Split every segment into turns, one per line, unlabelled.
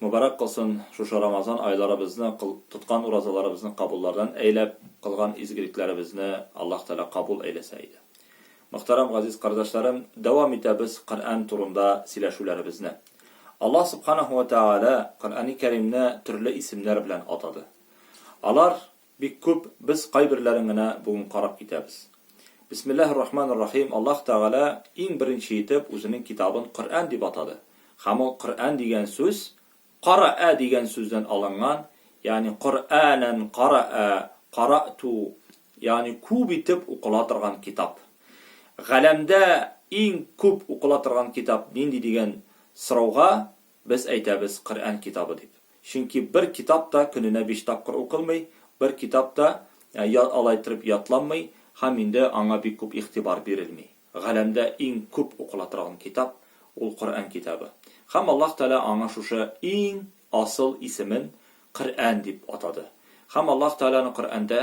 Мөбарәк кылсын шушы Рамазан айларыбызны, кыл, тоткан уразаларыбызны кабуллардан әйләп, кылган изгелекләребезне Аллаһ Тәгалә кабул әйләсә иде. Мөхтәрәм газиз кардәшләрем, дәвам итәбез Коръән турында сөйләшүләребезне. Аллаһ Субханаһу вә Тәгалә Коръәни Кәримне төрле исемнәр белән атады. Алар Бик күп, без кайберләрен генә бүген карап китәбез. Бисмиллаһи ррахмани ррахим, Аллаһ Тәгалә иң беренче итеп Үзенең китабын Коръән дип атады. Һәм ул Коръән дигән сүз Караә дигән сүздән алынган, ягъни Коръәнән караә, караәту, ягъни күп итеп укыла торган китап. Галәмдә иң күп укыла торган китап нинди дигән сорауга Без әйтәбез, Коръән китабы дип. Чөнки бер китап та көненә биш тапкыр укылмый, бер китап та алай иттереп ятланмый һәм инде аңа бик күп игътибар бирелми. Галәмдә иң күп укыла торган китап, ул Коръән китабы. Һәм Аллаһ Тәгалә аңа шушы иң асыл исемен Коръән дип атады. Һәм Аллаһ Тәгаләне Коръәндә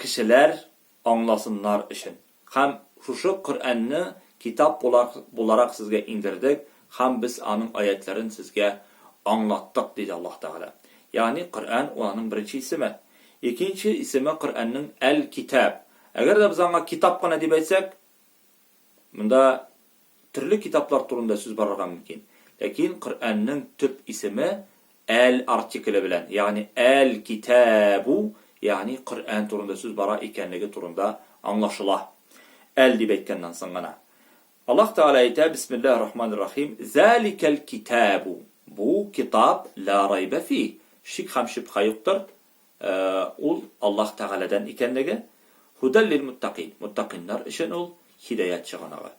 кешеләр аңласыннар өчен. Һәм шушы Коръәнне китап буларак сезгә иңдердек һәм без аның аятьләрен сезгә аңлаттык, диде Аллаһ Тәгалә. Ягъни Коръән ул аның беренче исеме. Икенче исеме Коръәннең Әл-Китаб. Әгәр дә без аңа китап кына дип әйтсәк, Монда төрле китаплар турында сүз барырга мөмкин. Ләкин Коръәннең төп исеме әл артикле белән, ягъни әл-китәбу, ягъни Коръән турында сүз бара икәнлеге турында аңлашыла. Әл дип әйткәннән соң гына. Аллаһ Тәгалә әйтә, Бисмиллаһир рахманир рахим, Заликәл китәбу. Бу китап ла райба фи, шик һәм шөбһә юктыр, Ә ул Аллаһ Тәгаләдән икәнлеге, Һудәл лил-муттакин, муттакиннар өчен ул, һидаять чыганагы.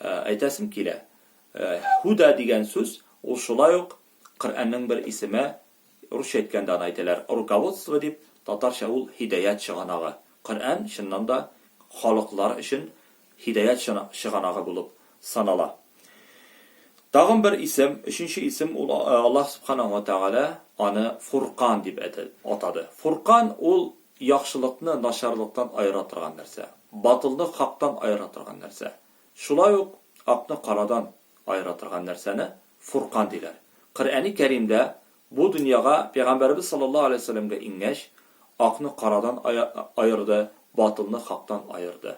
Әйтәсем килә, Һудә дигән сүз, ул шулай ук Коръәннең бер исеме, русча әйткәндә аны әйтәләр руководство дип, татарча ул һидаять чыганагы. Коръән, чыннан да, халыклар өчен Һидаять чыганагы булып санала. Тагын бер исем, өченче исем, ул Аллаһ Сүбхәнәһү вә Тәгалә аны Фуркан дип атады. Фуркан ул яхшылыкны начарлыктан аера торган нәрсә, батылны хактан аера торган нәрсә. Шулай ук акны карадан аера торган нәрсәне Фуркан диләр. Коръәни Кәримдә бу дөньяга Пәйгамбәребез саллаллаһу галәйһи вә сәлләмгә иңгәч, акны карадан аерды, батылны хактан аерды.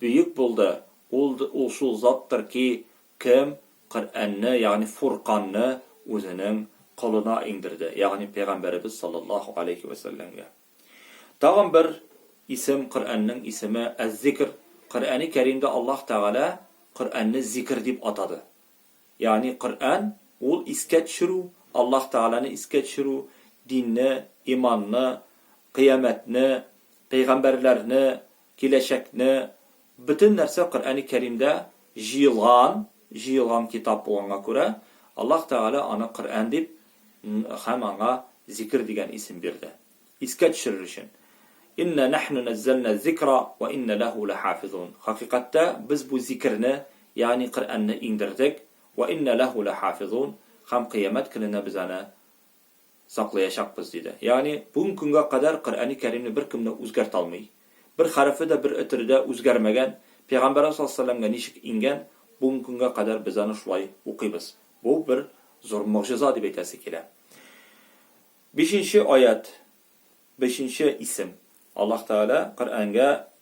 Бөек булды, ул ул шул заттыр ки, кем Коръәнне, ягъни Фурканны үзенең колына иңдерде, ягъни пәйгамбәребез саллаллаһу галәйһи вә сәлләмгә. Тагын бер исем Коръәннең исеме Әз-Зикр, Коръәни Кәримдә Аллаһ Тәгалә Коръәнне зикер дип атады. Ягъни Коръән, ул искә төшерү, Аллаһ Тәгаләне искә төшерү, динне, иманны, кыямәтне, пәйгамбәрләрне, киләчәкне, бөтен нәрсә Коръәни Кәримдә җыелган, җыелган китап булганга күрә, Аллаһ Тәгалә аны Коръән дип һәм аңа Зикер дигән исем бирде. Искә төшерер өчен. Иннә нәхну нәззәлнә ззикра вә иннә ләһү ләхафизун. Хакыйкатьтә без бу зикерне, ягъни Коръәнне иңдердек, вә иннә ләһү ләхафизун, һәм кыямәт көненә без аны саклаячакбыз, диде. Ягъни, бүген көнгә кадәр Коръәни Кәримне беркем дә үзгәртә алмый. Бер хәрефе дә бер өтере дә үзгәрмәгән, Пәйгамбәребез саллаллаһу галәйһи ва сәлләмгә ничек иңгән, бүген көнгә кадәр без аны шулай укыйбыз. Бу бер зур могҗиза дип әйтәсе килә. Бишенче аять, бишенче исем. Аллаһ Тәгалә Коръәнгә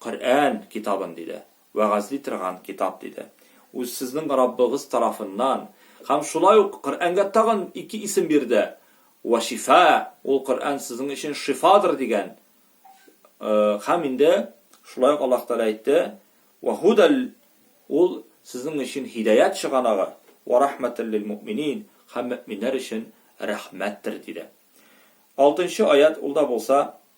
Коръән китабын, диде. Вәгазьли торган китап, диде. Ул сезнең Раббыгыз тарафыннан. Һәм шулай ук Коръәнгә тагын ике исем бирде, Вә шифа, ул Коръән сезнең өчен шифадыр, дигән. Һәм инде шулай ук Аллаһ Тәгалә әйтте, Вә һудәл, ул сезнең өчен һидаять чыганагы, Вә рәхмәтәл лил-мөэминин, һәм мөэминнәр өчен рәхмәттер, диде. Алтынчы аять, ул да булса,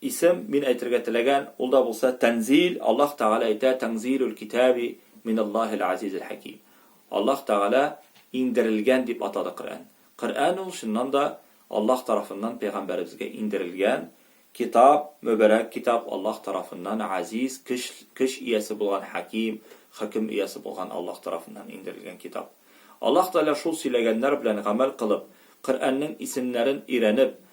Исем, мин әйтергә теләгән, ул да булса тәнзил, Аллаһ Тәгалә әйтә, Тәңзилүл китәби минәллаһил азизил хәким. Аллаһ Тәгалә иңдерелгән дип атады Коръән. Коръән ул, чыннан да, Аллаһ тарафыннан пәйгамбәребезгә иңдерелгән китап, мөбарәк китап, Аллаһ тарафыннан азиз, көч, көч иясе булган, хәким, хөкем иясе булган Аллаһ тарафыннан иңдерелгән китап. Аллаһ Тәгалә шул сөйләгәннәр белән гамәл кылып, Коръәннең исемнәрен өйрәнеп,